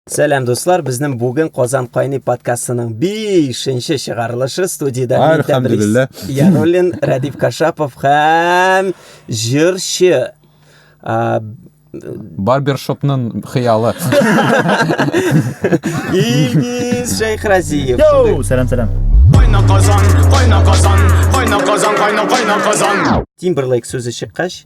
Сәлам дуслар, безнең бүген Казан кайный подкастының 5-нче чыгарылышы студиядә Әлхәмдулилла. Яруллин, Радив Кашапов һәм җырчы барбершопның хыялы илгиз шәйхразиев йоу сәлам сәлам кайна казан кайна казан кайна казан кайна кайна казан тимберлейк сүзе чыккач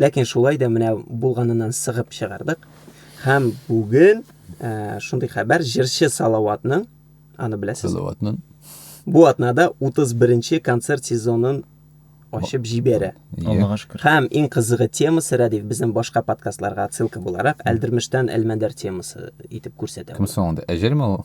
Ләкин шулай да менә булганыннан сыгып чыгардык. Һәм бүген ә, шундый хәбәр җырчы Салаватның, аны беләсез. Салаватның. Бу атнада 31-нче концерт сезонын ачып җибәрә. Аллага шөкер. Һәм иң кызыгы темасы Радив безнең башка подкастларга отсылка буларак Әлдермештән Әлмәндәр темасы итеп күрсәтә. Кем соң анда? Әҗәлме ул?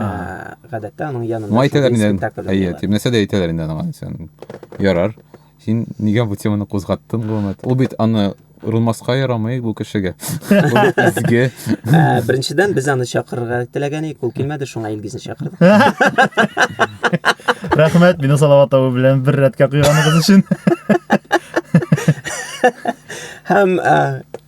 гадәттә аның янында ну, әйтәләр инде әйе дип нәрсә дә әйтәләр инде аңа сен ярар син нигә бу теманы кузгаттың гомумән ул бит аны рулмаска ярамый бу кешегә изге беренчедән без аны чакырырга теләгән идек ул килмәде шуңа илгизне чакырдык рәхмәт мине салават абый белән бер рәткә куйганыгыз өчен һәм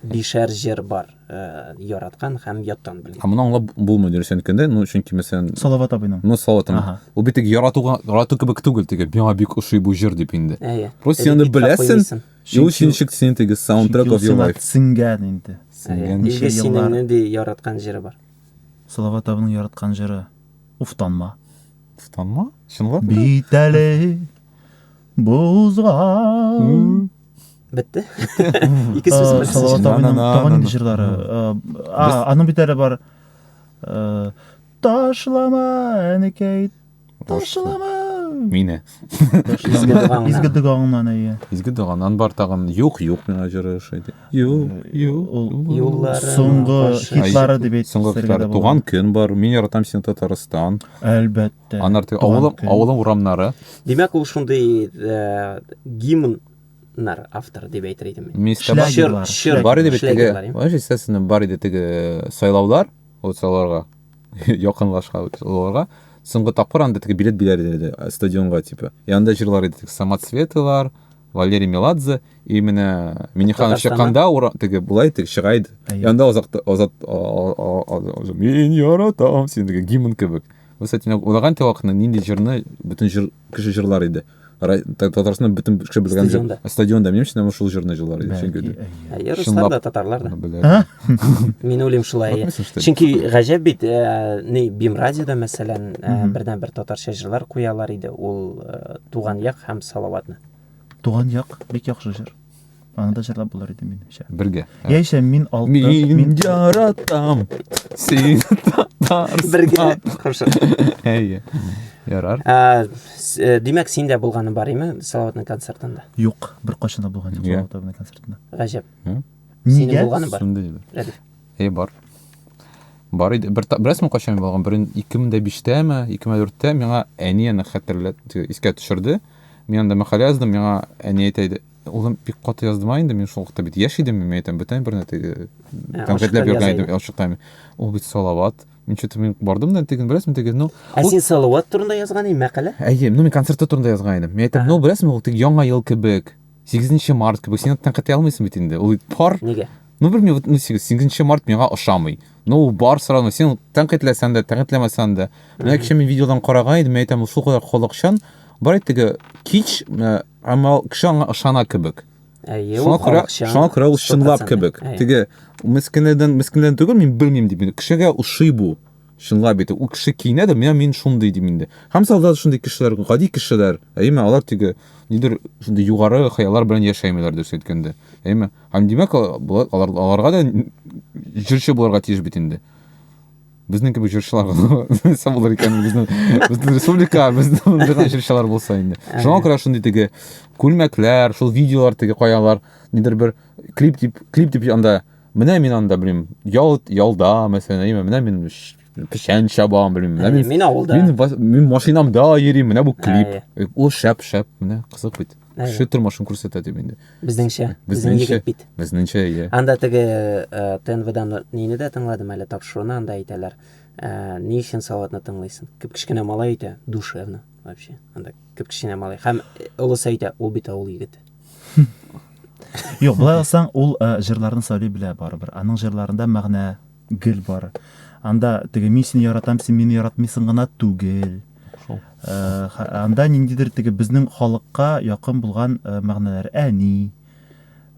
Бишәр җыр бар, яраткан һәм яттан белгән. Ә моны аңлап булмый дөрес әйткәндә, ну чөнки мәсәлән Салават абыйның. Ну Салават абый. Ул бит тик яратуга, ярату кебек түгел, теге миңа бик ошый бу җыр дип инде. Әйе. Просто аны беләсең. Шул өчен ничек син теге саундтрек of your life. Сиңгән инде. Сиңгән. Ничә еллар. Синең нинди яраткан җыры бар? Салават абының яраткан җыры. Уфтанма. Уфтанма? Чынлап? Бит әле бозга. бетте ике сүз э, салават абыйның табан инде җырлары аның бит әле бар э, ташлама әнекәй ташлама мине изге догаңнан әйе изге доганнан бар тагын юк юк миңа җыры ошайды юк э, юк ул юллары соңгы хитлары дип әйт соңгы хитлары туган көн бар мин яратам сине татарстан әлбәттә Анар теге авылым, авылым урамнары. Димәк, ул шундый э, гимн нар автор дип әйтер идем мин. Мистер Шер, шер, бар иде бит теге. Вообще, естественно, бар иде теге э, сайлаулар, вот сайлауларга якынлашка уларга. Соңгы тапкыр анда теге билет биләр иде э, стадионга типа. И анда җырлар иде теге Самоцветылар, Валерий Меладзе и менә Миниханов чыкканда ура теге булай теге чыга иде. Анда азат азат мин яратам сине гимн кебек. Вы, кстати, менә уйлаган идегез вакытны, нинди җырны бөтен җыр кеше җырлар иде? Ра- Та- Татарстанда бөтен кеше белгән җыр. Стадионда. Стадионда, минем өчен шул җырны җырлар иде. Чөнки Бәлки, әйе. Әйе, руслар Чынлап. да, татарлар да. Белә. Мин уйлыйм шулай. әйе. Атмыйсың, что ли? Чөнки гаҗәп бит, э, ни Бим радиода мәсәлән, э, Мгм. бердәнбер татарча җырлар куялар иде. Ул э, Туган як һәм Салаватны. Туган як, бик яхшы җыр. Аны да җырлап булыр иде минемчә. Бергә. Яисә мин алтын, мин Мин яратам. Син татарстан. Бергә. Хорошо. Әйе. Ярар. Ә, с- э, Димәк, син дә булганың бар име Салаватның концертында? юк, бер кайчан да булган юк Иә. Салават абыйның концертында. Гаҗәп. Ә? Синең Нигә? булганың бар. Шундый иде. Рәдиф. Е, бар. Бар иде. Бер та- беләсеңме кайчан булган? Берен 2005-тәме, 2004-тә миңа әни аны хәтерләтте, искә төшерде. Мин анда мәкалә яздым, миңа әни әйтә иде, Улым, бик каты яздым а инде мин шул вакытта бит яшь идем, мин әйтәм, бүтән бер нәрсә теге ә, конкретләп йөргән идем, ачыктан. Ул бит салават. Мин что-то мин бардым да теге, беләсеңме, теге, ну. Ә син салават турында язган идең мәкалә? Әйе, ну мин концертта турында язган идем. Мин әйтәм, ну беләсеңме, ул теге яңа ел кебек, 8 март кебек, син аны ката алмыйсың бит инде. Ул пар. Нигә? Ну белмим, вот ну 8 март миңа ошамый. Ну бар сразу, син тәнкыйтьләсәң дә, тәнкыйтьләмәсәң дә. Менә кеше мин видеодан караган идем, мин әйтәм, ул шул кадәр холыкчан, бар әйтеге кич Әмма ул кеше аңа ышана кебек. Әйе, шуңа күрә, шуңа күрә ул чынлап кебек. Теге мескенедән мескенедән түгел, мин белмим дип, кешегә ошый бу. Чынлап бит, ул кеше киенә дә, мин шундый дим инде. Һәм салда шундый кешеләр, гади кешеләр, әйме, алар теге нидер шундый югары хыяллар белән яшәмиләр дөрес әйткәндә. Әйме? Һәм димәк, алар аларга да җырчы булырга тиеш бит инде. Безнең кебек җырчылар булса булыр икән безнең безнең республика безнең булган җырчылар булса инде. Шуңа күрә шундый теге күлмәкләр, шул видеолар теге каялар, нидер бер клип дип клип дип анда менә мин анда белмим, ял ялда мәсәлән, әйме, менә мин печән чабам, белмим, менә мин. Мин авылда. Мин мин машинамда йөрим, менә бу клип. Ул шәп, шәп, менә кызык бит. Кеше тормышын күрсәтә дип инде. Безнеңчә. Безнең егет бит. Безнеңчә, иә. Анда теге э, ТНВдан нейне дә тыңладым әле тапшыруны, анда әйтәләр. Э, ни өчен салатны тыңлыйсың? Кеп кечкенә малай әйтә, душевно вообще. Анда кеп кечкенә малай. Һәм э, олысы әйтә, ул бит авыл егете. Юк, былай алсаң, ул җырларны сөйли белә барыбер. Аның җырларында мәгънә гел бар. Анда теге мин сине яратам, син мине яратмыйсың гына түгел. Шул. Э, анда ниндидер теге безнең халыкка якын булган э, мәгънәләр әни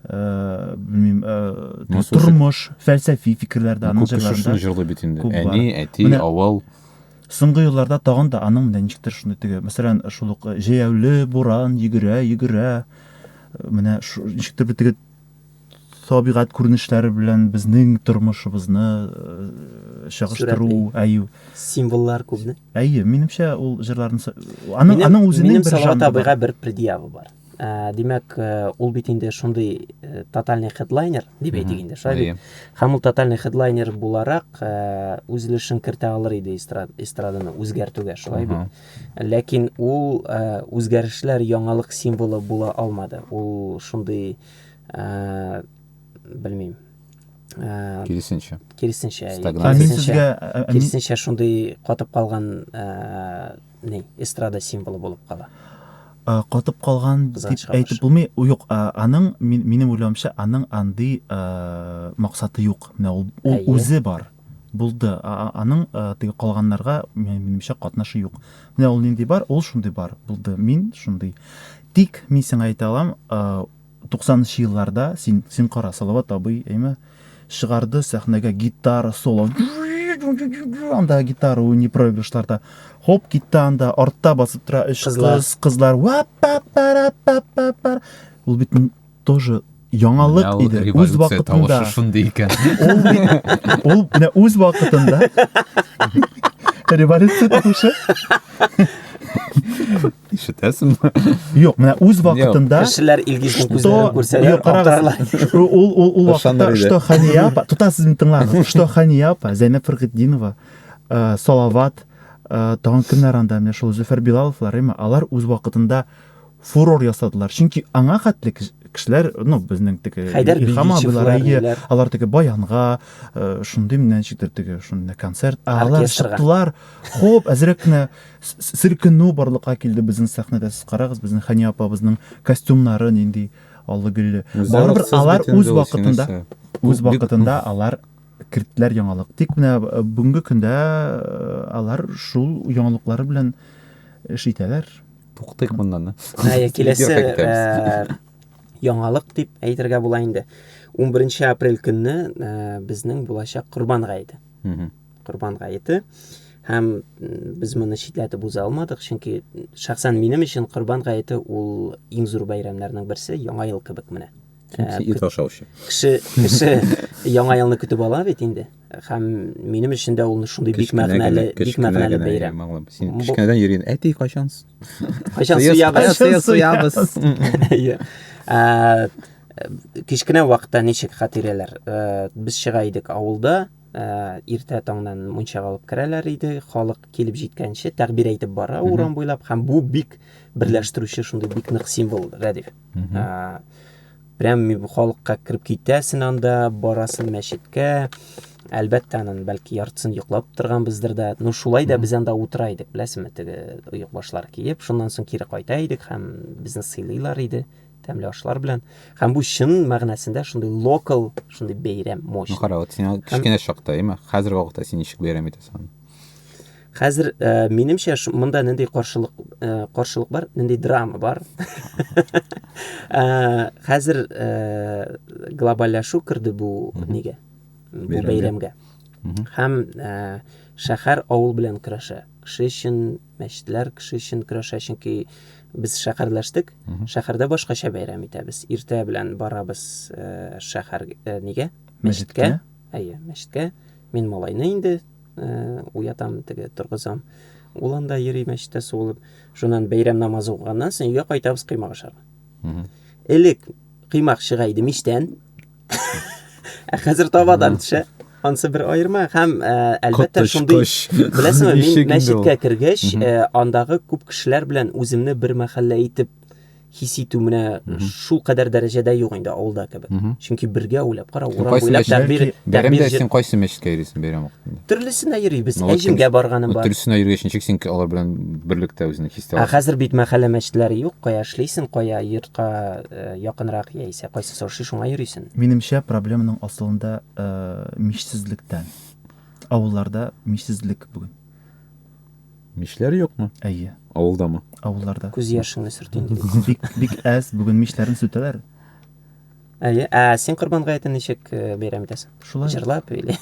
э, белмим тормыш фәлсәфи фикерләр дә аның җырларында җырлый бит инде әни әти авыл соңгы елларда тагын да аның менә ничектер шундый теге мәсәлән шул ук җәяүле буран йөгерә йөгерә менә ничектер теге табигать күренешләре белән безнең тормышыбызны э, чагыштыру, әйе. Символлар күпме? Әйе, минемчә ул җырларны аның аның үзенең бер жанры. Табига бер предъява бар. Ә, димәк, э, ул бит инде шундый э, тотальный хедлайнер дип әйтик инде, шулай бит. Һәм ул тотальный хедлайнер буларак үз өлешен кертә алыр иде эстраданы үзгәртүгә, шулай бит. Ләкин ул үзгәрешләр яңалык символы була алмады. Ул шундый белмим. Киресенчә. Киресенчә. Киресенчә. Киресенчә шундый катып калган не эстрада символы булып кала. Катып калган дип әйтеп булмый. Юк, аның минем уйлавымча, аның андый максаты юк. Менә ул үзе бар. Булды. Аның теге калганнарга минемчә катнашы юк. Менә ул нинди бар, ул шундый бар. Булды. Мин шундый. Тик мин сиңа әйтә алам, 90нчы елларда син син кара, Салават абый, әйме, чыгарды сәхнәгә гитара соло. Анда гитара уйный проигрышларда. Хоп, китте анда, артта басып тора өч кыз, кызлар. Ул бит тоже яңалык иде үз вакытында шундый икән ул ул менә үз вакытында революция тавышы ишетәсеңме юк менә үз вакытында кешеләр илгиз күзләрен күрсәләр актарлар ул ул ул вакытта что хания апа тотасыз мин тыңлагыз что хания апа зәйнәп фәргетдинова салават тагын кемнәр анда менә шул зөфәр билаловлар әйме алар үз вакытында фурор ясадылар. Чөнки аңа хәтле кешеләр, ну, безнең теге Илһам абыйлар, әйе, алар теге баянга, э, шундый менә ничектер теге шундый концерт, ә алар чыктылар. Хоп, әзрәк кенә сиркенү барлыкка килде безнең сәхнәдә. Сез карагыз, безнең Хәния апабызның костюмнары нинди аллы гөлле. Барыбер алар үз вакытында, үз вакытында алар керттеләр яңалык. Тик менә э, бүгенге көндә э, алар шул яңалыклары белән эш итәләр. Туктыйк моннан. Әйе, киләсе э, яңалык дип әйтергә була инде. 11 апрель көнне э, безнең булачак Корбан гаете. Корбан гаете һәм без моны читләтеп уза алмадык, чөнки шәхсән минем өчен Корбан гаете ул иң зур бәйрәмнәрнең берсе, яңа ел кебек менә. Ә, ит ашаучы. Кеше, кеше яңа елны көтеп ала бит инде. Һәм минем өчен дә ул шундый бик мәгънәле, бик мәгънәле бәйрәм. Син кечкенәдән йөрин, әти кайчан? Кайчан суябыз? Кайчан суябыз? Иә. Ә, кечкенә вакытта ничек хатирәләр? Ә, без чыга идек авылда, ә, иртә таңнан мунчага алып керәләр иде, халык килеп җиткәнче тәгъбир әйтеп бара урам буйлап һәм бу бик берләштерүче шундый бик нык символ, Рәдиф. Ә, прям халыкка кереп китәсен анда, барасын мәчеткә. Әлбәттә, анын бәлки яртысын йоклап торганбыздыр да. Ну, шулай да без анда утыра идек, беләсеңме, теге оек башлар киеп. Шуннан соң кире кайта идек һәм безне сыйлыйлар иде тәмле ашлар белән. Һәм бу чын мәгънәсендә шундый локал, шундый бәйрәм мощный. Ну, кара, вот син кечкенә чакта, имә, хәзерге вакытта син ничек бәйрәм итәсең? Хәзер э, минемчә монда нинди каршылык э, каршылык бар, нинди драма бар. Э, хәзер э, глобальләшү керде бу нигә? Бу бәйрәмгә. Һәм э, шәһәр авыл белән көрәшә. Кеше өчен мәчетләр, кеше өчен көрәшә, чөнки без шәһәрләштек. Шәһәрдә башкача бәйрәм итәбез. Иртә белән барабыз э, шәһәр э, нигә? Мәчеткә. Әйе, мәчеткә. Мин малайны инде э, уятам, теге торгызам. Ул анда йөри мәчеттә суылып. Шуннан бәйрәм намазы укыганнан соң өйгә кайтабыз кыймак ашарга. Элек кыймак чыга иде мичтән. Ә хәзер табадан төшә. Ансы бер аерма һәм э, әлбәттә шундый беләсеңме, мин мәчеткә кергәч, э, андагы күп кешеләр белән үземне бер мәхәллә итеп хис итү менә шул кадәр дәрәҗәдә юк инде авылда кебек. Чөнки бергә уйлап кара, урам буйлап тәкбир бәйрәмдә син кайсы мәчеткә йөрисең бәйрәм вакытында? Төрлесенә йөрибез. Әҗемгә барганым бар. Төрлесенә йөргәч ничек син алар белән берлектә үзеңне хис итәсең? Ә хәзер бит мәхәллә мәчетләре юк, кая эшлисең, кая йортка э, якынрак яисә кайсы соршы шуңа йөрисең. Минемчә проблеманың асылында э, мичсезлектән. Авылларда мичсезлек бүген. Мичләр юкмы? Әйе. Авылдамы? Авылларда. Күз яшеңне сөрт инде. Бик, бик әз, бүген мичләрен сүтәләр. Әйе, ә син Корбан гаетен ничек э, бәйрәм итәсең? Шулай. Җырлап или?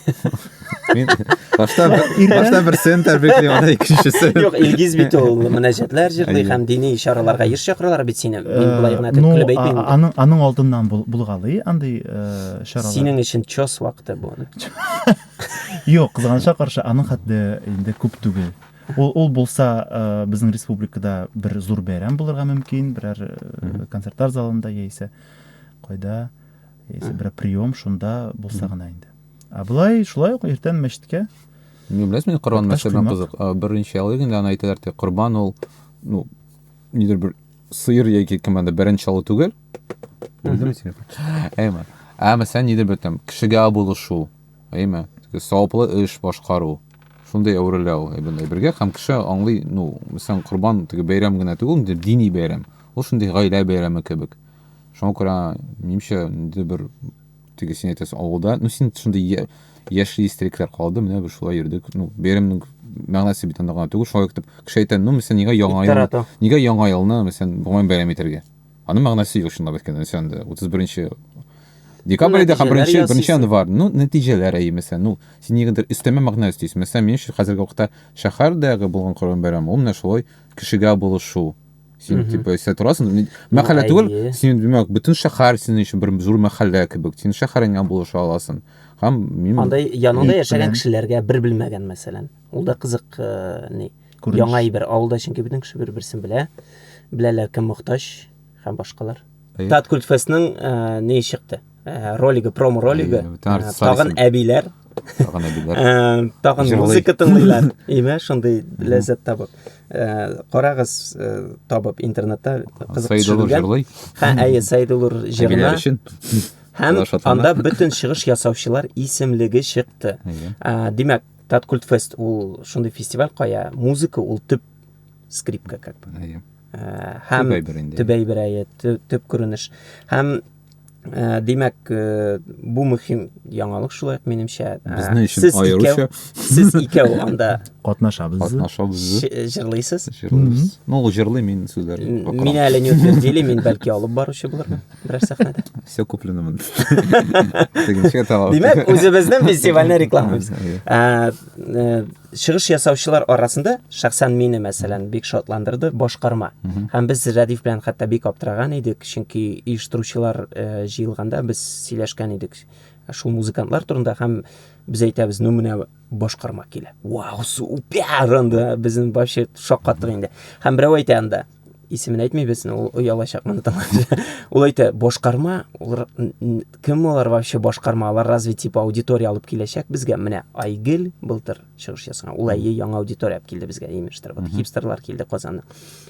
Мин башта башта бер сен тәрбикле, анда икенчесе. Юк, Илгиз бит ул мөнәҗәтләр җырлый һәм дини чараларга еш чакыралар бит сине. Мин э, болай гына ну, көлеп әйтмим. Аның аның алдыннан булгалый андый э, чаралар. Синең өчен чос вакыты бу. Юк, кызганычка каршы, аның хәтле инде күп түгел. Ул, ул булса, э, безнең республикада бер зур бәйрәм булырга мөмкин, берәр э, концертлар залында яисә кайда, яисә берәр прием шунда булса гына инде. Ә болай шулай ук иртән мәчеткә Не беләсез, мин Корбан мәчете белән кызык. Э, беренче ялы инде аны әйтәләр, корбан ул, ну, нидер бер сыер яки кем анда бәрән чалу түгел. Бүлдем сине. Әйме. Ә мәсәлән, нидер бер там кешегә булышу, әйме. Саваплы эш башкару. Шундый әвереләү әйбенләй бергә һәм кеше аңлый, ну, мәсәлән, корбан теге бәйрәм генә түгел, инде дини бәйрәм. Ул шундый гаилә бәйрәме кебек. Шуңа күрә, минемчә, инде бер теге син әйтәсең авылда ну син шундый яшьли истелекләр калды менә без шулай йөрдек ну бәйрәмнең мәгънәсе бит анда гына түгел шулай итеп кеше әйтә ну мәсәлән нигә яңа ел нигә яңа елны мәсәлән гомумән бәйрәм итәргә аның мәгънәсе юк чынлап әйткәндә сен анда утыз беренче декабрьдә һәм беренче беренче январь ну нәтиҗәләр әйе мәсәлән ну син нигәдер өстәмә мәгънә өстисең мәсәлән мин өчен хәзерге вакытта шәһәрдәге булган корбан бәйрәме ул менә шулай кешегә булышу сен mm -hmm. типа эстә торасың мәхәллә түгел син димәк бөтен шәһәр синең өчен бер зур мәхәллә кебек син шәһәреңә булыша аласың һәм мин андай яныңда яшәгән кешеләргә бер белмәгән мәсәлән ул да кызык э, ни яңа әйбер авылда чөнки бөтен кеше бер берсен белә беләләр кем мохтаҗ һәм башкалар Әйе. Тат Культфестның ә, не чыкты? Ә, ролигы, промо ролигы. Әйе, бөтен ә, артистлар Тагын исем. әбиләр, Тагын әбиләр. ә, тагын Җырлый. музыка тыңлыйлар. Име, шундый ләззәт табып. Ә, Карагыз ә, табып интернетта кызык Саидуллов төшерелгән. жырлый. Ха, әйе, Саидуллур җырына. Әбиләр өчен. Һәм Алар шатлана. анда бөтен чыгыш ясаучылар исемлеге чыкты. Әйе. Ә, Димәк, Тат Культфест ул шундый фестиваль кая музыка ул төп скрипка как бы. Әйе. һәм төп әйбер инде төп әйбер әйе төп күренеш һәм Ә, димәк ә, бу мөһим яңалык шулай ук минемчә ә, безнең өчен сез аеруча сез икәү анда катнашабыз катнашабыз җырлыйсыз җырлыйбыз ну ул җырлый мин сүзләр мин әле не утвердили мин бәлки алып баручы булырмын берәр сәхнәдә все куплено мын димәк үзебезнең фестивальне рекламалыйбыз Чыгыш ясаучылар арасында шәхсән мине мәсәлән бик шатландырды башкарма. Һәм без Рәдиф белән хәтта бик аптыраган идек, чөнки оештыручылар э, җыелганда без сөйләшкән идек шул музыкантлар турында һәм без әйтәбез, ну менә башкарма килә. Вау, супер! Анда безнең вообще шаккаттык инде. Һәм берәү әйтә анда, исемен әйтмибез, ул оялачак моны тыңлап. Ул әйтә, башкарма, олар, кем алар вообще башкарма, алар разве типа аудитория алып киләчәк безгә? Менә Айгел былтыр чыгыш ясаган. Ул әйе яңа аудитория алып килде безгә, имештер. Вот хипстерлар килде Казаннан.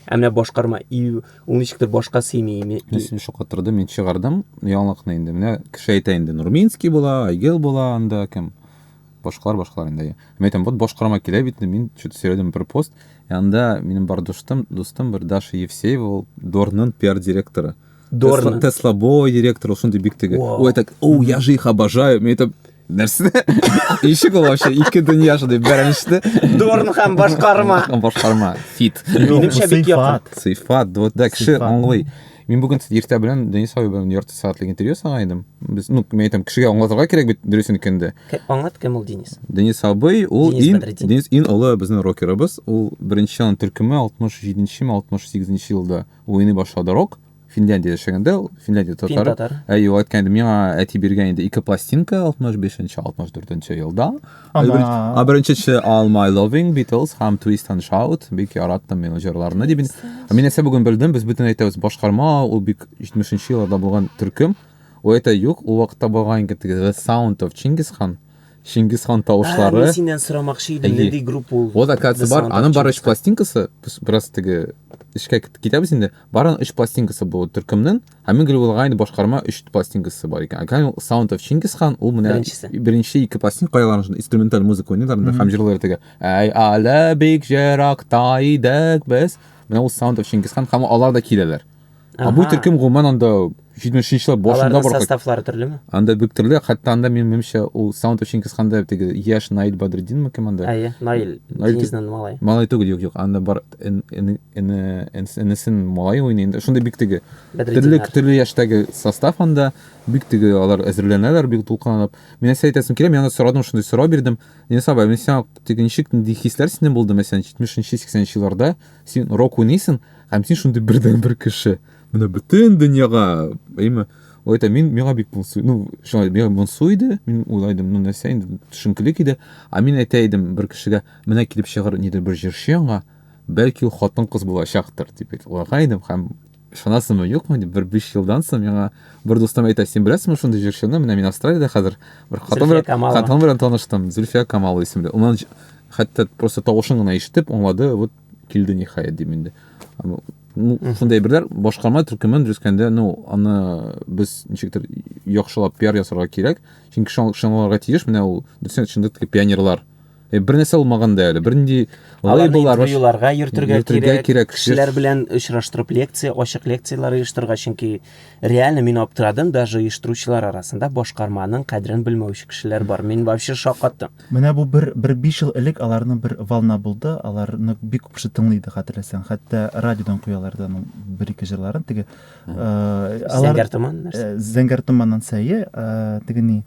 Ә менә башкарма и ул ничектер башка сыймый. Исем шаккатырды, мин чыгардым яңалыкны инде. Менә кеше әйтә инде, Нурминский була, Айгел була, анда кем? башкалар башкалар инде мен айтам вот башкарма килә бит мин че то сөйләдем бер пост янында минем бар дустым дустым бер даша евсеева ул дорның пиар директоры дорн тесла бой директор ул шундый бик теге ул айтады о я же их обожаю мен айтам нәрсе ничек ул вообще ике дөнья шундай бәрәнеште дорн һәм башкарма башкарма фит минемчә бик якын сыйфат да кеше аңлый Мин бүген иртә белән Денис абый белән ярты сәгатьлек интервью ясаган идем. Без, ну, мен әйтәм, кешегә аңлатырга кирәк бит дөресен икәнде. Аңлат кем ул Денис? Денис абый, ул Денис ин, Бәдретдин. Денис ин олы безнең рокерыбыз. Ул беренче ан төркеме 67 ме 68 елда уйный башлады рок. Финляндия яшәгәндә ул, Финляндия татары. Фин татар. Әйе, ул әйткән иде, миңа әти биргән инде ике пластинка 65-64 елда. Ана... Ә беренчесе All My Loving Beatles һәм Twist and Shout. Бик яраттым мин җырларны дип. Ә мин әсә бүген белдем, без бөтен әйтәбез башкарма, ул бик 70-нче елларда булган төркем. Ул әйтә юк, ул вакытта булган икән теге The Sound of Genghis Khan. Чингис хан тавышлары. Ә, синнән сорамакчы идем, нинди группа ул? Ул да катсы бар, аның бар өч пластинкасы, без бераз теге эшкә китәбез инде. Барын өч пластинкасы бу төркемнең. Ә мин гел уйлаган идем, башкарма 3 пластинкасы бар икән. Әгәр ул Sound of Chinggis Khan, ул менә беренчесе. Беренче ике пластинка кайган шунда инструменталь музыка уйныйлар инде һәм җырлар теге. Әй, әле бик җыракта идек без. Менә ул Sound of Chinggis Khan һәм алар да киләләр. Ә бу төркем гомумән анда 70-нче еллар башында бар. Составлары төрлеме? Анда бик төрле, хәтта анда мин минемчә ул Sound of Chinggis Khan-да теге Яш Наил Бадриддинме кем анда? Әйе, Наил. Наил Денисның малай. Малай түгел, юк, юк. Анда бар энесен малай уйный инде шундый бик теге төрле төрле яшьтәге состав анда бик теге алар әзерләнәләр бик дулкынланып мин нәрсә әйтәсем килә мин аны сорадым шундый сорау бирдем Денис абай мин сиңа теге ничек нинди хисләр синдә булды мәсәлән җитмешенче сиксәненче елларда син рок уйныйсың һәм син шундый бердән бер кеше менә бөтен дөньяга әйме ул әйтә мин миңа бик моңсу ну шулай миңа моңсу иде мин уйлайдым ну нәрсә инде төшенкелек иде а мин әйтә идем бер кешегә Менә килеп чыгыр нидер бер җырчы яңа, бәлки ул хатын-кыз булачактыр дип уйлаган идем һәм ышанасыңмы юкмы дип бер биш елдан соң миңа бер дустым әйтә син беләсеңме шундый җырчыны менә мин австралиядә хәзер бер хатын белән хатын белән таныштым зөлфия камал исемле унан хәтта просто тавышын гына ишетеп аңлады вот килде ниһаять дим инде ну шундай берләр башкарма төркемен дөрескәндә ну аны без ничектер яхшылап пиар ясарга кирәк чөнки шуңа ышаналарга тиеш менә ул дөресен чында пионерлар Э, бер нәрсә алмаган да әле бернинди лейбллар интервьюларга йөртергә кирәк, кирәк кешеләр белән очраштырып лекция ачык лекцияләр оештырырга чөнки реально мин аптырадым даже оештыручылар арасында башкарманың кадерен белмәүче кешеләр бар мин вообще шакаттым менә бу бер бер биш ел элек аларның бер волна булды аларны бик күп кеше тыңлый иде хәтерләсәң хәтта радиодан куялар иде аның бер ике җырларын теге э, зәңгәр томан нәрсә э, зәңгәр томаннан сәе теге ни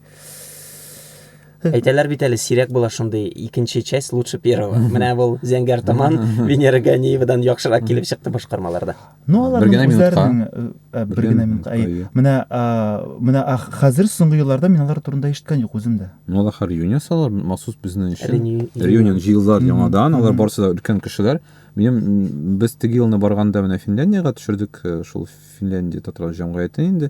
Әйтәләр бит әле сирәк була шундый икенче часть лучше первого. Менә ул Зәңгәр таман Венера Ганиевадан яхшырак килеп чыкты башкармаларда. Ну алар генә минутка. Бер генә минутка. Менә менә хәзер соңгы елларда мин алар турында ишеткән юк үзем дә. Ну алар хәр юнион салар махсус безнең өчен. Реюнион җыелдылар яңадан, алар барысы да өлкән кешеләр. Минем без теге елны барганда менә Финляндиягә төшердек, шул Финляндия татар җәмгыяте инде.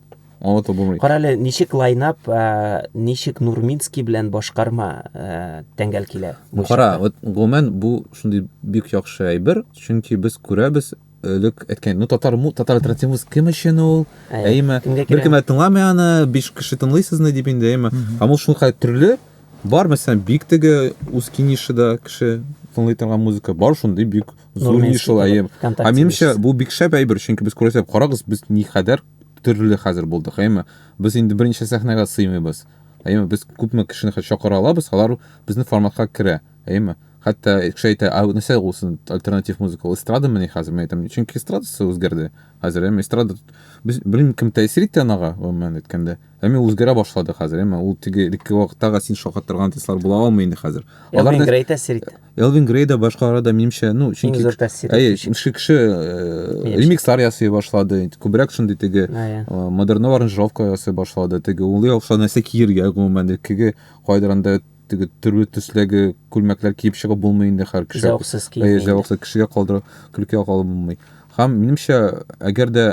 Онытып булмый. Карале, ничек лайнап, э, ничек Нурминский белән башкарма э, тәңгәл килә. бу Кара, чакта. вот гомумән бу шундый бик яхшы әйбер, чөнки без күрәбез элек әйткән, ну татар му, татар альтернативасы кем өчен ул? Әйе, Әйме, кемгә кирәк? беркем дә тыңламый аны, биш кеше тыңлыйсызны дип инде, әйме. Һәм ул шулкадәр төрле, бар мәсәлән, бик теге Ускинишида кеше тыңлый торган музыка, бар шундый бик Зур ни шул әйе. А минемчә бу бик шәп әйбер, чөнки без күрәсәк, карагыз, без ни хәдәр төрле хәзер булдык, әйме? Без инде берничә сәхнәгә сыймыйбыз. Әйме, без күпме кешене хәтта чакыра алабыз, алар безнең форматка керә, әйме? Хәтта кеше әйтә, а нәрсә ул син альтернатив музыка, ул эстрадамы ни хәзер? Мин әйтәм, чөнки эстрадасы үзгәрде. Хәзер әйме, эстрада без белмим кем тәэсир итте анага, гомумән әйткәндә. Әмма үзгәрә башлады хәзер, әмма ул теге элекке вакыттагы син шакаттырган артистлар була алмый инде хәзер. Алар да Грей тәэсир итте. Элвин Грей да башкалары да минемчә, ну, чөнки зур тәэсир. Әйе, шушы кеше э, ремикслар ясый башлады, күбрәк шундый теге э, модерн аранжировка ясый башлады, теге улы яхшы нәрсә киергә гомумән, теге кайдыр анда теге төрле төсләге күлмәкләр киеп чыгып булмый инде хәр кеше. Зәвыксыз киеп. Әйе, зәвыксыз кешегә калдырып, көлкегә калдырып булмый. Һәм минемчә, әгәр дә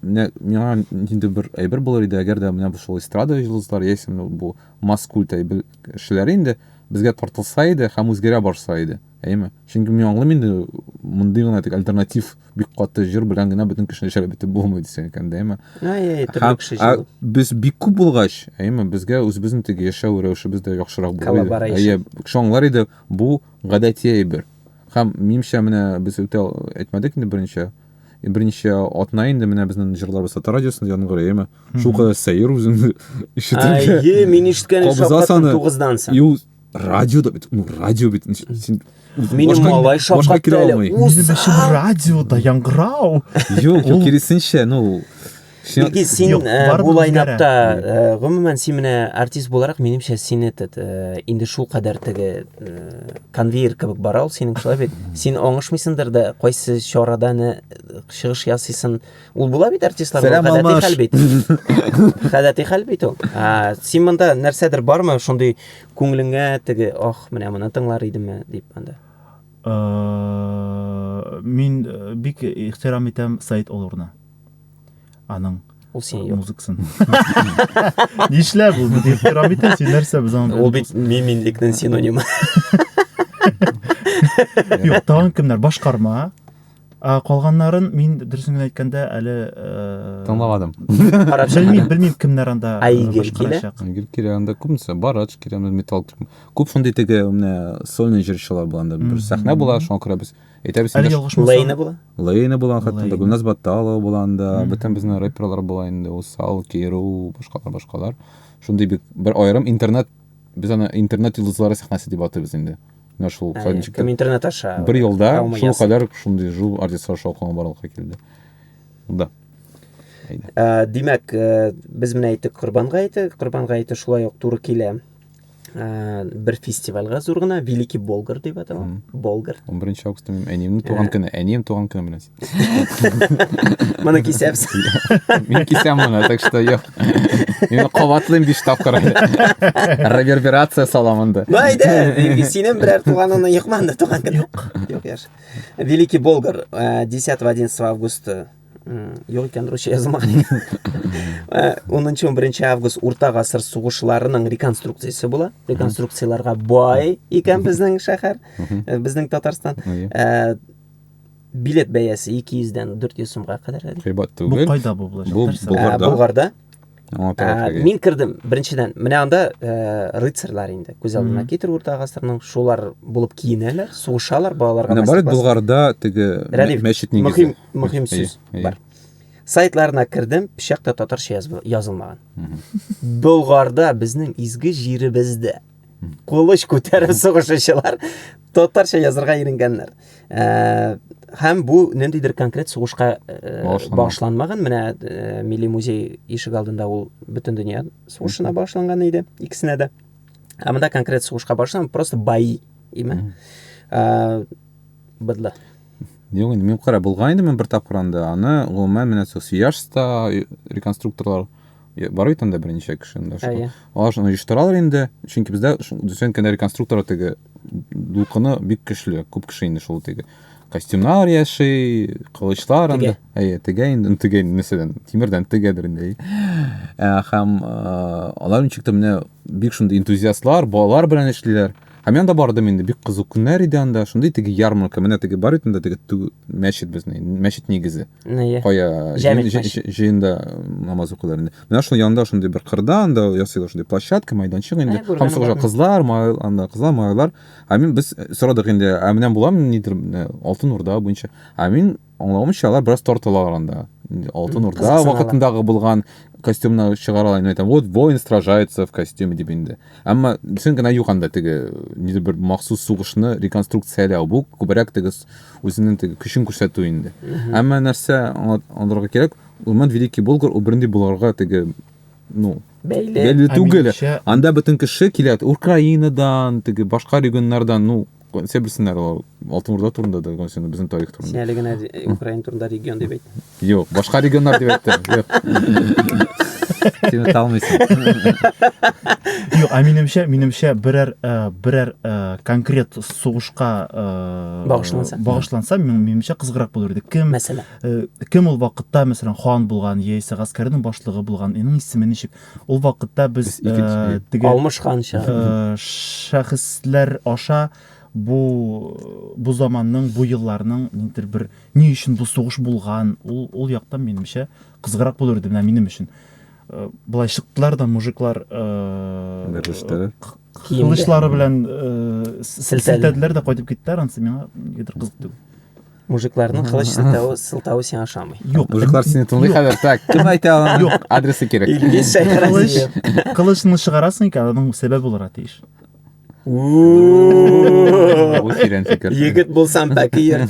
Менә миңа нинди бер әйбер булыр иде, әгәр дә менә бу шул эстрада йолдызлары яисә бу масс-культ әйбер кешеләре инде безгә тартылса иде һәм үзгәрә барса иде. Әйеме? Чөнки мин аңлыйм инде мондый гына тик альтернатив бик каты җыр белән генә бөтен кешене җәлеп итеп булмый дисәң икән, әйеме? Әй, төрле кеше җыр. Без бик күп булгач, әйеме, безгә үзебезнең теге яшәү рәвешебез дә яхшырак булыр иде. Әйе, кеше аңлар иде, бу гадәти әйбер. Һәм минемчә менә без үтә әйтмәдек инде берничә Э, берничә атна инде менә безнең җырларыбыз татар радиосында яңгырый әйеме шул кадәр сәер үзеңне ишетергә әйе мин ишеткәнем шаккаттым тугыздан соң ул радиода бит ну радио бит син минем малай шаккатты әле радиода яңгырау юк киресенчә ну Илгиз, син Юк, э, барыбер бу лайнапта, э, гомумән, син менә артист буларак, минемчә, син этот, э, инде шул кадәр теге э, конвейер кебек бара ул синең шулай бит. Син аңышмыйсыңдыр да, кайсы чарада не э, чыгыш ясыйсың. Ул була бит артистларда, Сәлам, гадәти Алмаш. хәл бит. Гадәти хәл бит ул. А, син монда нәрсәдер бармы, шундый күңелеңә теге, ох, менә моны тыңлар идемме дип анда. Э, Мин э, бик ихтирам итәм Саид Олурны. аның ул сине юк музыкасын нишләп ул бит ихтирам итә син нәрсә без аны ул бит миминлекнең синонимы юк тагын кемнәр башкарма ә калганнарын мин дөресен генә әйткәндә әле тыңламадым белмим белмим кемнәр анда айгел килә айгел килә анда күбесе барач килә металл күп шундый теге менә сольный җырчылар бар анда бер сәхнә була шуңа күрә без Әйтәбез Әле инде. ялгышмасам. Лейна була? Лейна булган хәтта инде, Лейна. Гөлназ Батталова булган да, Мгм. бөтен безнең рэперлар була инде, Усал, Керу, башкалар, башкалар. Шундый бик бер аерым интернет, без аны интернет йолдызлары сәхнәсе дип атыйбыз инде. Менә шул Ә, Садничекта. Кем интернет аша? Бер елда Травма шул ясый. кадәр шундый жул артистлар шаукымы барлыкка килде. Да. Әйдә. Ә, Димәк, э, без менә әйттек Корбан гаете, Корбан гаете шулай ук туры килә. ә, бер фестивальгә зур гына великий болгар дип атала болгар 11 августта минем әниемнең туган көне әнием туган көне белән моны кисәбез мин кисәм моны так что юк мин кабатлыйм биш тапкыр реверберация салам анда ну әйдә синең берәр туганыңны йокман да туган көне юк юк яш великий болгар 10 11 августта Юк икән, русча язылмаган икән. 10-11 август урта гасыр сугышларының реконструкциясе була. Реконструкцияләргә бай икән безнең шәһәр, э, безнең Татарстан. Э, билет бәясе 200 дән 400 сумга кадәр әле. Кыйбат түгел. Бу кайда бу булачак? Бу э, Булгарда. Мин кердем, беренчедән, менә анда рыцарьлар инде, күз алдына китер урта гасырның, шулар булып киенәләр, сугышалар, балаларга. Менә бар Булгарда теге мәчет нигезе. мөһим сүз бар сайтларына кердем пычакта татарча язылмаган болгарда безнең изге җиребездә кылыч күтәреп сугышучылар татарча язырга иренгәннәр ә, һәм бу ниндидер конкрет сугышка ә, багышланмаган менә ә, милли музей ишек алдында ул бөтен дөнья сугышына багышланган иде икесенә дә ә монда конкрет сугышка багышланган просто бои име ә, быдлы Юк, инде мин кара булган идем бер тапкыр анда. Аны гомумән менә сол Сияжста реконструкторлар бар бит анда берничә кеше анда. Әйе. Алар шуны оештыралар инде, чөнки бездә дисәң кенә реконструктор теге дулкыны бик көчле, күп кеше инде шул теге костюмнар яши, кылычлар анда. Әйе, тегә инде, ну тегә нәрсәдән? Тимердән тегәдер инде. Ә һәм алар ничек тә менә бик шундый энтузиастлар, балалар белән эшлиләр. Һәм мин анда бардым инде, бик кызык көннәр иде анда, шундый теге ярмарка, менә теге бар бит анда теге ту- мәчет безнең, мәчет нигезе. Нее. Кая Җәмит җыен- җы- мәчет. җы- җыенда намаз укыйлар инде. Менә шул янда шундый бер кырда анда ясыйлар шундый площадка, майданчык инде. Ә, күргәнем Һәм сорашалар, бармы? кызлар, май- анда кызлар, малайлар. Ә мин без сорадык инде, ә менә буламы нидер, менә Алтын Урда буенча. Ә мин Аңлавымча, алар бераз тартылалар анда. Алтын Урда Кызыксыналар. вакытындагы булган костюмны чыгаралар, инде әйтәм, вот воин сражается в костюме дип инде. Әмма син генә юк анда теге нидер бер махсус сугышны реконструкцияләү. Бу күбрәк теге с- үзенең теге көчен күрсәтү инде. Әмма нәрсә аңла- аңларга кирәк, Урман Великий Болгар ул бернди буларга теге ну, Бәйле. бәйле Ә түгел. минемчә- Анда бөтен кеше килә. Украинадан, теге башка регионнардан, ну, Сәр белсеннәр ул Алтын Урда турында да, гонсен безнең тарих турында. Син әле генә Украина турында регион дип әйт. Юк, башка регионнар дип әйттем. Син талмыйсың. Юк, ә минемчә, минемчә берәр э, берәр э, конкрет сугышка э, багышланса, багышланса минемчә кызыграк булыр иде. Кем? Мәсәлән. Кем ул вакытта, мәсәлән, хан булган, яисә гаскәрнең башлыгы булган, аның исеме ничек? Ул вакытта без э, теге алмышканча э, шәхесләр аша бу бу заманның, бу елларның ниндидер бер ни өчен бу сугыш булган, ул ул яктан минемчә кызыграк булыр иде менә минем өчен. Э, былай чыктылар да мужиклар берләштеләр. Кылычлары белән силтәделәр дә кайтып киттеләр, ансы миңа нидер кызык түгел. Мужикларның кылыч сылтавы, сылтавы сиңа ошамый. Юк, мужиклар сине тыңлый хәзер. Так, кем әйтә аны? Юк, адресы кирәк. Илгиз Шәйхразиев. Кылычны чыгарасың икән, аның сәбәбе булырга тиеш. Бу тирән фикер. Егет булсам пәкиер.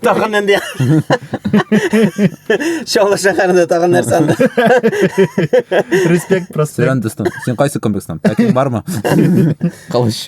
Тагын нинди? Чаллы шәһәрендә тагын нәрсә анда? Респект, проспект. Сөрән дустым, син кайсы комплекстан? Пәкең бармы? Кылыч.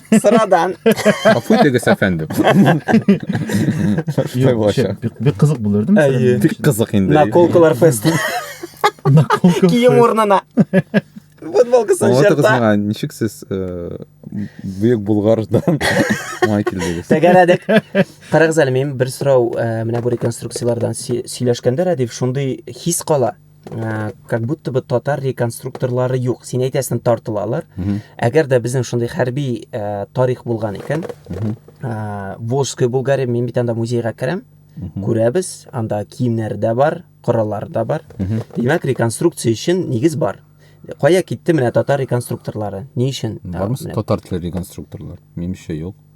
Sıradan. Гафу итегез, әфәндем. Шулай булачак. Бик- Бик кызык булыр, değil mi? Әйе. Сәләм. Бик кызык инде. Наколкалар фест. Наколка. Кием урнына. Футболкасын Аңлатыгыз жырта. миңа, ничек сез э, Бөек Булгардан май килдегез? Тәгәрәдек. Карагыз әле, минем бер сорау, ә, менә бу реконструкцияләрдән сөй- сөйләшкәндә Рәдиф шундый хис кала. Э, как будто бы татар реконструкторлары юк син әйтәсең тартылалар әгәр дә безнең шундый хәрби э, тарих булган икән э, волжская булгария мин бит анда музейга керәм күрәбез анда киемнәр дә бар кораллар да бар димәк реконструкция өчен нигез бар кая китте менә татар реконструкторлары ни өчен бармы татар теле реконструкторлар минемчә юк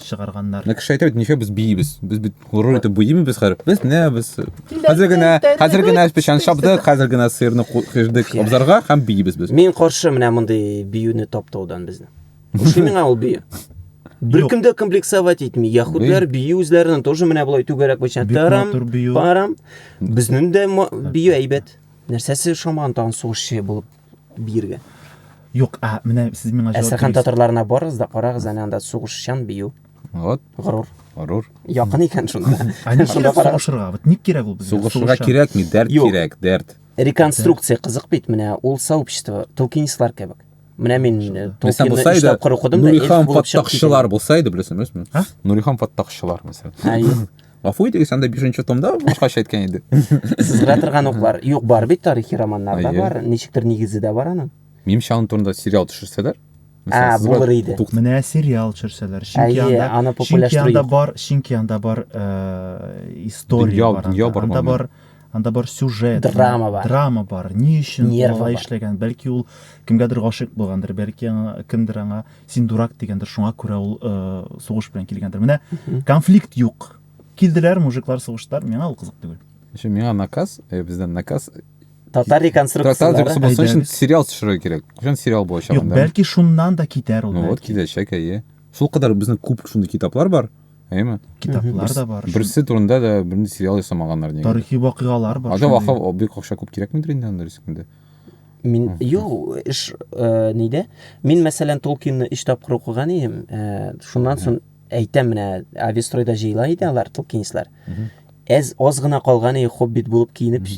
чыгарганнар. Менә кеше әйтә бит, ничә без биибез. Без бит горур итеп биимибез хәзер. Без менә без хәзер генә, хәзер генә печән чапдык, хәзер генә сыерны куйдык абзарга һәм биибез без. Мин каршы менә мондый биюне таптаудан безне. Ошый миңа ул бию. Беркем дә комплексовать итми. Яхудлар бию үзләренең тоже менә болай түгәрәк буенча тарам, парам. Безнең дә бию әйбәт. Нәрсәсе шаман тагын сугышчы булып биергә. Юк, ә менә сез миңа җавап Әстерхан бирегез. татарларына барыгыз да карагыз әнә анда сугышчан бию. Вот, Горур. горур. Якын икән шунда. А ник Шунда кирәк карагыз. сугышырга? Вот ник кирәк ул безгә? Сугышырга Сугышчан. кирәкми, дәрт Юк. кирәк, дәрт. Реконструкция кызык бит менә ул сообщество толкинистлар кебек. Менә мин э, Мәсәлән, Толкинны булса иде, иштәп кыр укыдым да эльф Нурихан булып чыгып киттем. фаттахчылар булса иде, беләсеңме? Нурихан фаттахчылар, мәсәлән. Әйе. Гафу итегез, анда бишенче томда башкача әйткән иде. Сызгыра торган уклар. Юк, бар бит тарихи романнар да бар, ничектер нигезе дә бар аның. Минемчә, аның турында сериал төшерсәләр, Ә, булыр иде. Менә сериал төшерсәләр. Чөнки анда, аны чөнки анда бар, чөнки анда бар история бар. Дөнья бар. Анда бар, анда бар сюжет. Драма бар. Драма бар. Ни өчен алай эшләгән? Бәлки ул кемгәдер гашыйк булгандыр, бәлки кемдер аңа Син дурак дигәндер, шуңа күрә ул э, сугыш белән килгәндер. Менә конфликт юк. Килделәр, мужиклар сугыштылар, миңа ул кызык түгел. Еще миңа наказ, э, бездән наказ Татар реконструкцияләре. Татар реконструкциясе өчен сериал төшерергә кирәк. Кайчан сериал булачак анда? Юк, бәлки шуннан да китәр ул. Ну вот киләчәк, әйе. Шул кадәр безнең күп шундый китаплар бар. Әйме? Китаплар да бар. Берсе турында да бернинди сериал ясамаганнар нигә? Тарихи вакыйгалар бар. Ача вакыйга бик акча күп кирәкмидер инде анда рискендә. Мин юк, эш э, нидә? Мин мәсәлән Толкинны өч тапкыр укыган идем. Э, шуннан соң әйтәм менә Авестройда җыела иде алар Толкинислар. Әз аз гына калган иде хоббит булып киенеп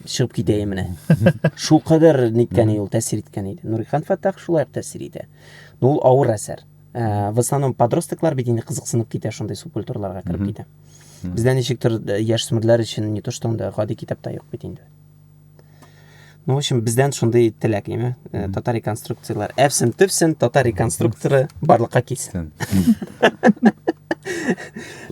чыгып китә иде менә. Шул кадәр ниткән иде ул тәэсир иткән иде. Нурихан Фаттах шулай ук тәэсир итә. Ну ул авыр әсәр. Э, в основном подростклар бит инде кызыксынып китә шундый субкультураларга кереп китә. Бездә ничектер яшь смырлар өчен не то что анда гади китапта юк бит инде. Ну, в общем, бездән шундый теләк име. Э, татар реконструкцияләр. Әфсен төпсен, татар реконструкторы барлыкка килсен.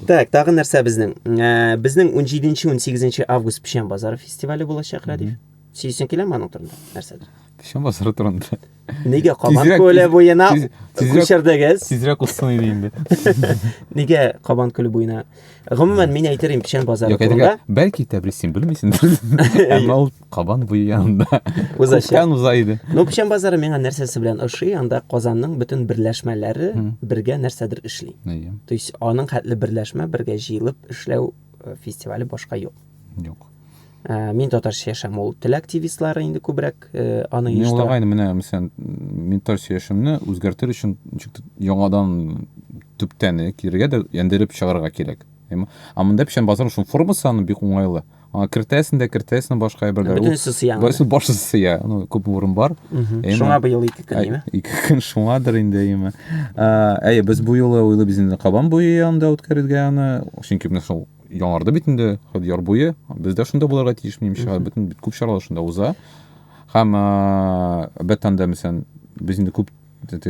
Так, тагы нәрсә безнең? Э, безнең 17-18 август печән базары фестивале булачак, Радив. Сөйсен киләме аның турында? Нәрсәдер? Печән базары турында. Нигә Кабан Тизрәк- күле тиз- буена тиз- тизрәк- күчердегез? Тизрәк узсын иде инде. Нигә Кабан күле буена? Гомумән, мин әйтер идем Печән базары Юк, турында. әйтергә, бәлки Тәбрис син белмисеңдер. Әмма ул кабан буе янында. Узачак. Күптән уза иде. Ну, Печән базары миңа нәрсәсе белән ошый, анда Казанның бөтен берләшмәләре Мгм. бергә нәрсәдер эшли. Әйе. То есть аның хәтле берләшмә бергә җыелып эшләү э, фестивале башка юк. Юк. Ә, мин татарча яшәм, ул тел активистлары инде күбрәк ә, аны Мин оештыра. уйлагайны менә мәсәлән менталь сөяшемне үзгәртер өчен ничек тә яңадан төптән э, кирегә дә яндереп чыгарырга кирәк. Әйме? А монда печән базарның шул формасы аны бик уңайлы. Аңа кертәсен дә кертәсен башка әйберләр. Бөтенесе сыя анда. Барысы барысы сыя. Ну, күп урын бар. Әйме? Шуңа быел ике көн, Әй, әйме? Ике көн шуңадыр инде әйме. Ә, Әйе, без бу юлы уйлыйбыз инде Кабан буе янында үткәрергә аны, чөнки менә шул Яңарды бит инде Яр буе. Без дә шунда булырга тиеш, минемчә, бөтен бит күп чаралар шунда уза. Һәм бәттән дә мәсәлән, без инде күп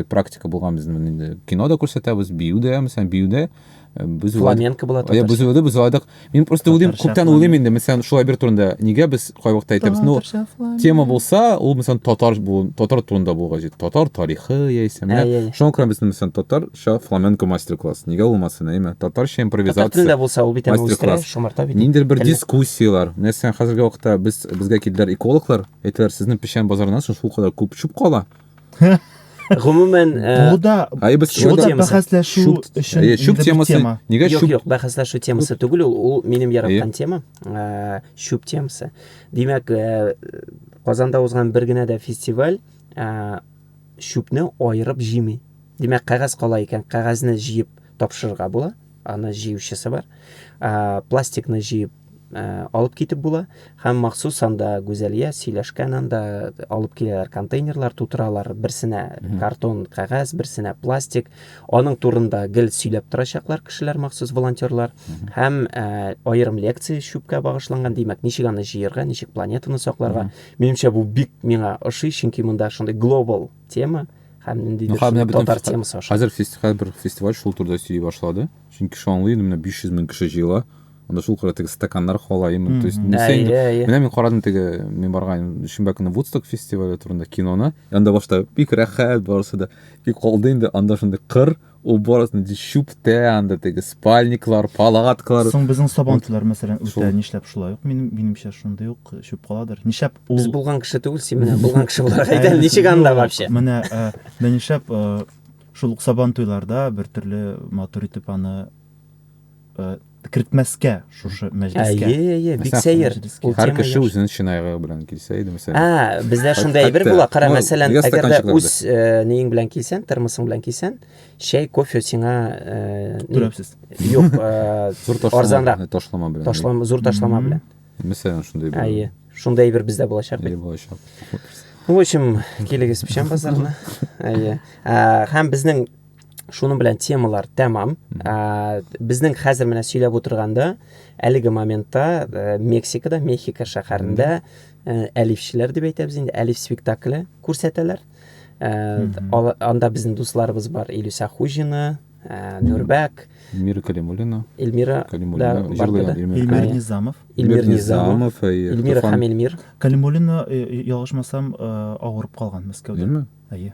практика булган безнең инде кино да күрсәтәбез, бию дә, мәсәлән, бию дә без фламенко була татарча. Без өйдә без уйладык. Мин просто уйлыйм, күптән уйлыйм инде, мәсәлән, шулай бер турында. Нигә без кайвакытта әйтәбез? Ну, тема булса, ул мәсәлән татар бу, татар турында булгач, татар тарихы яисә менә. Шуңа күрә без мәсәлән татар Шо, фламенко мастер-класс. Нигә булмасын, әйме? Татарча импровизация. Татар телендә булса, ул бит үстерә, шомарта бит. Ниндер бер дискуссияләр. Нәрсә, хәзерге вакытта без безгә килделәр экологлар, әйтәләр, сезнең печән базарыннан соң шул кадәр күп чүп кала. Гомумән, э, бу да айбыз шул да бәхәсләшү өчен э, чүп темасы. Нигә чүп? Юк, юк, бәхәсләшү темасы түгел, ул минем яраткан тема. Э, чүп темасы. Димәк, Казанда узган бер генә дә фестиваль чүпне аерып җыймый. Димәк, кәгазь кала икән, кәгазьне җыеп тапшырырга була. Аны җыючысы бар. Ә, пластикны җыеп ә, алып китеп була һәм махсус анда Гүзәлия сөйләшкән анда алып киләләр контейнерлар тутыралар. Берсенә картон, кәгазь, берсенә пластик. Аның турында гел сөйләп торачаклар кешеләр махсус волонтерлар һәм ә, аерым лекция чүпкә багышланган. Димәк, ничек аны җыерга, ничек планетаны сакларга, менимчә бу бик миңа ошый чөнки монда шундый глобал тема һәм ниндидер шундый татар темасы аша хәзер фестиваль бер фестиваль шул турыда сөйли башлады чөнки шанлы инде менә 500 мең кеше җыела анда шул кара теге стаканнар хала именно то есть менә мин карадым теге мин барган шимбә көне вудсток фестивале турында киноны анда башта бик рәхәт барысы да и калды инде анда шундый кыр Уборок, чүптә, анда теге спальниклар, палаткалар. Соң безнең сабантилар, мәсәлән, үтә нишләп шулай ук, минем, минемчә, шундый ук чүп каладыр. Нишләп ул... Без булган кеше түгел, син менә булган кеше буларак әйтә, ничек анда вообще? Менә, ә, менә нишләп, ә, шул ук сабантуйларда бер төрле матур итеп аны, ә, кертмәскә шушы мәҗлескә. Әйе, әйе, бик сәер. Ул һәр кеше үзенең чинайгы белән килсә иде, мәсәлән. А, бездә шундый әйбер була, кара, мәсәлән, әгәр дә үз э, нең белән килсән, термосың белән килсән, чәй, кофе сиңа э, түләпсез. Юк, э, арзанрак. Ташлама белән. Ташлама, зур ташлама белән. Мәсәлән, шундый әйбер. Әйе. Шундый әйбер бездә булачак бит. Булачак. В общем, килегез печән базарына. Әйе. Һәм безнең шуның белән темалар тәмам ә, безнең хәзер менә сөйләп утырганда әлеге моментта ә, мексикада мехико шәһәрендә ә, әлифчеләр дип әйтәбез инде әлиф спектакле күрсәтәләр ә, анда безнең дусларыбыз бар илюса хужина ә, нурбәк эльмира калимуллина эльмира калимуллина да, жырлыйган эльмир низамов эльмир низамов эльмира һәм эльмир калимуллина э, э, ялгышмасам э, авырып калган мәскәүдә әйе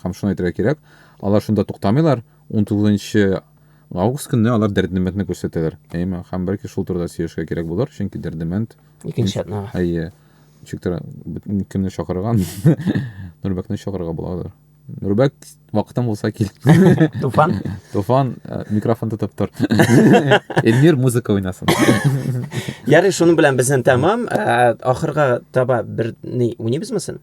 Һәм шуны әйтергә кирәк, алар шунда туктамыйлар, 19 август көнне алар Дәрдемәндне күрсәтәләр. Әйме, һәм бәлки шул турыда сөйләшергә кирәк булыр, чөнки Дәрдемәнд икенче атна. Әйе. Ничек тора, кемне чакырган? Нурбәкне чакырырга буладыр. Нурбәк вакытың булса кил. Туфан. Туфан э, микрофон тотып тор. Эльмир музыка уйнасын. Ярый, шуның белән безнең тәмам. Э, ахырга таба бер ни уйнабызмы син?